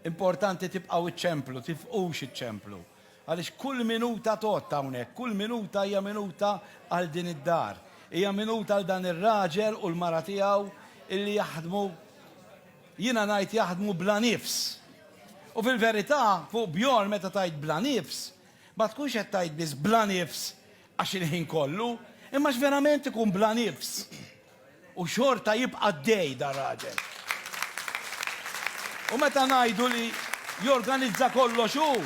Importanti tibqgħu iċċemplu, tifqux iċċemplu. Għaliex kull minuta tot hawnhekk, kull minuta hija minuta għal din id-dar. Hija minuta għal dan ir-raġel u l-mara tiegħu illi jaħdmu jiena ngħid jaħdmu bla nifs. U fil-verità fuq Bjorn meta tajt bla nifs, ma tkunx qed tajt biss bla nifs għax il-ħin kollu, imma x'verament ikun bla nifs. U xorta jibqa' għaddej dan raġel. U meta ngħidu li jorganizza kollox hu,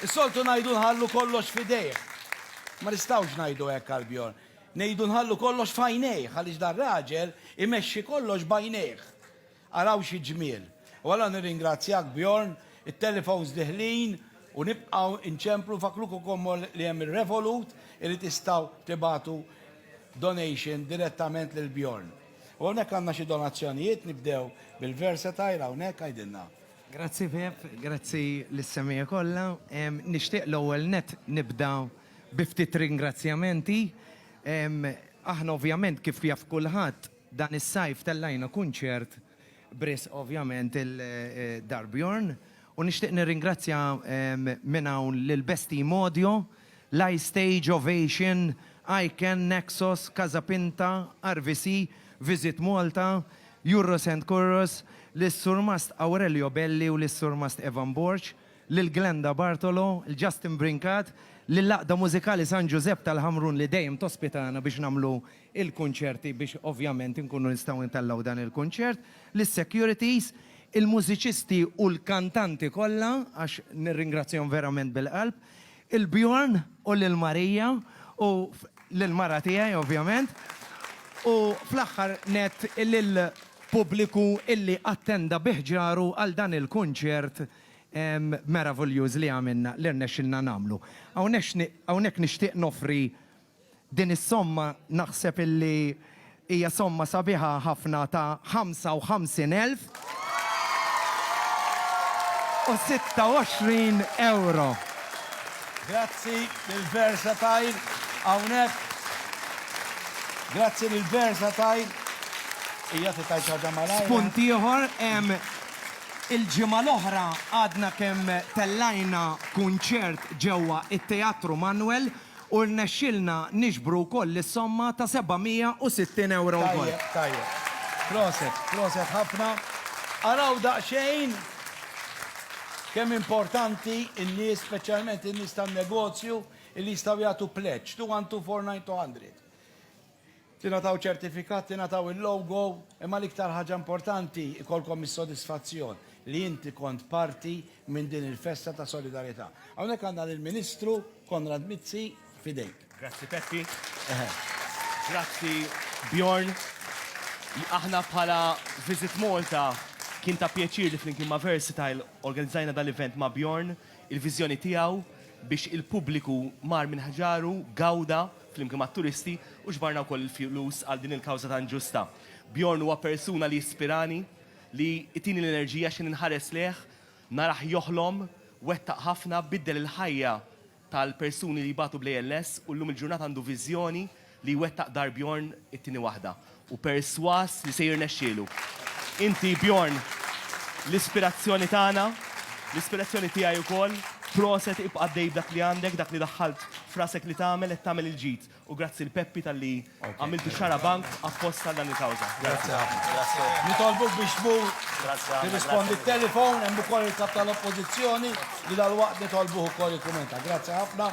is-soltu ngħidu nħallu kollox f'idejh. Ma nistgħux ngħidu hekk għal Bjorn. Ngħidu nħallu kollox f'għajnejh għaliex dan raġel imexxi kollox b'għajnejh. Araw xi ġmiel! U allura nirringrazzjak Bjorn, it-telefons diħlin u nibqgħu nċemplu, nfakkruk ukommol li hemm ir-Revolut li tistgħu tibagħtu donation direttament lil Bjorn. U hawnhekk għandna xi donazzjonijiet, nibdew bil-Versatile hawnhekk, għidilna. Grazzi Pepp, grazzi lis-semgħa kollha. Nixtieq l-ewwel nett nibda bi ftit ringrazzjamenti. Aħna ovvjament kif jaf kulħadd Dan is-sajf tellajna kunċert b'risq ovvjament il-Darbjorn u nixtieq nirringrazzja minn hawn lil Best Team Audio, Live Stage, Ovation, Iken, Naxos, Casa Pinta, RVC, Visit Malta, Yurros and Curros, lis-Surmast Aurelio Belli u lis-Surmast Evan Borg, lil Glenda Bartolo, il-Justin Brincat, lill-Għaqda Mużikali San Ġużepp tal-Ħamrun li dejjem tospitana biex nagħmlu il-kunċerti biex ovvjament inkunu nistgħu intellgħu dan il-kunċert, lis-securities, il-mużiċisti u l-kantanti kollha għax nirringrazzjahom verament bil-qalb, il-Bjorn u lil Marija u lill-mara tiegħi ovvjament, u fl-aħħar nett lill-pubbliku illi attenda bi ħġaru għal dan il-kunċert meraviljuż li għamilna, li rnexxilna nagħmlu. Hawnhekk nixtieq noffri Din is-somma naħseb illi hija somma sabiħa ħafna ta' 55,026 ewro. Grazzi lil Versatile hawnhekk. Grazzi lil Versatile. Hija se tgħid ħaġa malajr. Spunt ieħor, il-ġimgħa l-oħra għadna kemm tellajna kunċert ġewwa t-Teatru Manwel, u rnexxielna niġbru wkoll is-somma ta' 760 ewro wkoll. Tajjeb, tajjeb. Proset, proset ħafna. Araw daqsxejn kemm importanti n-nies, speċjalment in-nies tan-negozju, li jistgħu jagħtu pledge, 212 49 200. Tingħataw ċertifikat, tingħataw il-logo, imma l-iktar ħaġa importanti jkollkom is-sodisfazzjon li inti kont parti minn din il-festa ta' solidarità. Hawnhekk għandna lill-Ministru Konrad Mizzi, f'idejk. Grazzi Peppi. Grazzi Bjorn. Aħna bħala Visit Malta kien ta' pjaċir li flimkien ma' Versatile organizzajna dan l-event ma' Bjorn, il-viżjoni tiegħu biex il-pubbliku mar minn ħġaru, gawda, flimkien mat-turisti, u ġbarna wkoll il-flus għal din il-kawża tant ġusta. Bjorn huwa persuna li jispirani, li jtini l-enerġija x'ħin inħares lejh, narah joħlom, wettaq ħafna, biddel il-ħajja tal-persuni li jbatu bl-ALS u llum il-ġurnata għandu viżjoni li jwettaq dar Bjorn it-tieni waħda. u persważ li se jirnexxielu. Inti, Bjorn, l-ispirazzjoni tagħna, l-ispirazzjoni tiegħi wkoll. Proset, ibqa' għaddej b'dak li għandek, dak li daħħalt f'rasek li tagħmel, qed tagħmel il-ġid. U grazzi 'l Peppi talli għamiltu xarabank apposta għal dan il-kawża. Grazzi ħafna. Nitolbuk biex tmur tirrispondi t-telefon, hemm ukoll il-Kap tal-Oppożizzjoni li dalwaqt nitolbuh ukoll jikkumenta. Grazzi ħafna.